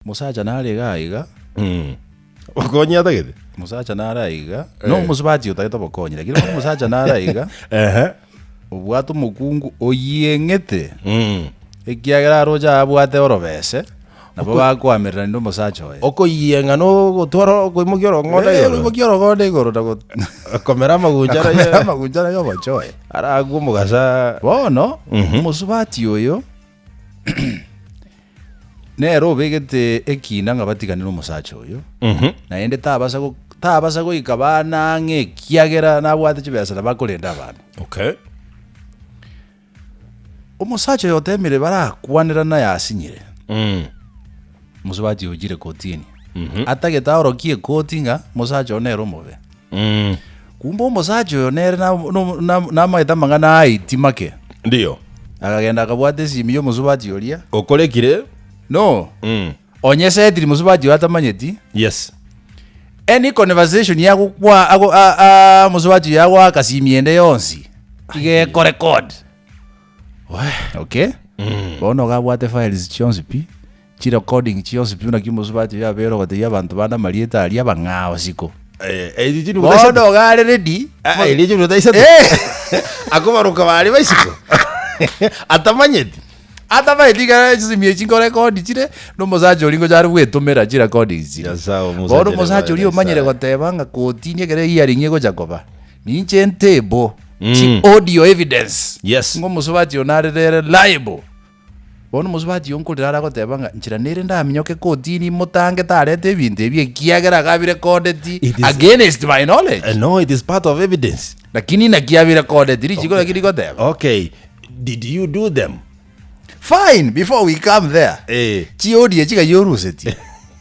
Mosacha nare iga aiga. Obokonyi atagete? Mosacha nare aiga. No eh. omosubati otagete obokonyi, lakini bono mosacha nare aiga. Ehe. Obwate omokungu oyeng'ete. Mm. Ekiagera aroche abwate orobese. Nabo bakoamerera nende omosacha oye. Okoyieng'a na ogotwara okoimokia orong'onda igoro. Okoimokia orong'onda igoro na komera amaguncha na komera amaguncha na omochoe. Aragwe omogasa. Bono, mhm. omosubati oyo. Nere obegete ekiina ng'a batiganere omosacha oyo, naende tabasa go- tabasa goika abana ang'e ekiagera nabwate chibesa na bakorenda abana. Okay. Omosacha oyo otemire barakwanerana aye asinyire, Mm. omosubati oyo ochire kotini. Atagete aorokie ekoti ng'a omosacha oyo nere omobe. Kumbe omosacha oyo nere na- no- na- namaete amang'ana aiti make, Ndiyo. akagenda akabwata esimi y'omosubati oria. Okorekire. No, Mm. onye esetiri mosubati oyo atamanyeti, Yes. any conversation yagokwa ago- a- a- mosubati oyo agoaka simi ende yonsi igeko record. Okay? Bono gabwate files chionsi pi. Chirecording chionsi buna kimosubati biabeire ogotebia abanto bande amarieta aria bang'aa bosiko. Bono iga are ready akobaroka baria baisiko atamanyeti. Atamanyeti iga are chisimi echi nkorekondi chire na omosacha oria ngocha are gwetomera chirecording chiria. Nyasae omosacha Bono omosacha nyabae oria na omanyire Nyasae. goteba ng'a kotini ekero ehearing egocha koba ninche ntable chi audio evidence Yes. ng'a omosubati oyo nare reliable. Bono omosubati onkorire are agoteba ng'a nchera nere ndaminyoke kotini motange tarete ebinto ebi ekiagera iga birecorded It is- against my knowledge. Eh, no it is part of evidence Lakini inaki abirecorded, richiko naki rigoteba. okay did you do them Fine, before we come there. Eh. Chiodi echi iga yorusetie.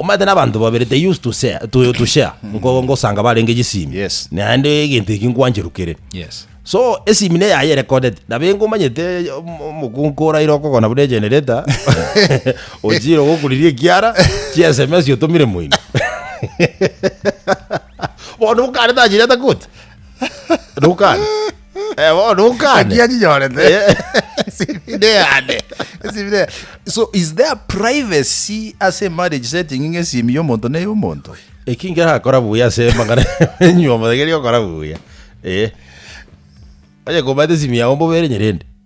Omanyete nabanto babere they used to share, to, to share ngo- ngosanga barenge chisimi Yes. naende egento eki nkwancherukire Yes. so esimi ne yaye erekodete nabengo omanyete om- omokunku oraire okogona buna egenerator ochire ogokuriria ekiara chia sms otomire moino bono bokare tachirete koti nokane Eh, bono okane. Ekiya chinyorete. Eh. Esibire yane. Esibire ya- So is there privacy as a marriage setting ng'a esimi y'omonto ne y'omonto? eki ngerakora buya ase amang'ana enyuomo egeri okora buya Eh. onye komata esimi yao mbobere nyerende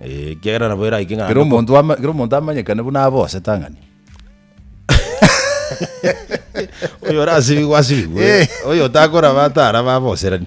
Eh, ekiagera nabo eraike Kera ng'ambe ko- omonto ama- kera omonto amanyekane buna abe osetang'ani oyo orasibigwe asibigwe Eh. oyo otakoraba atara baboserani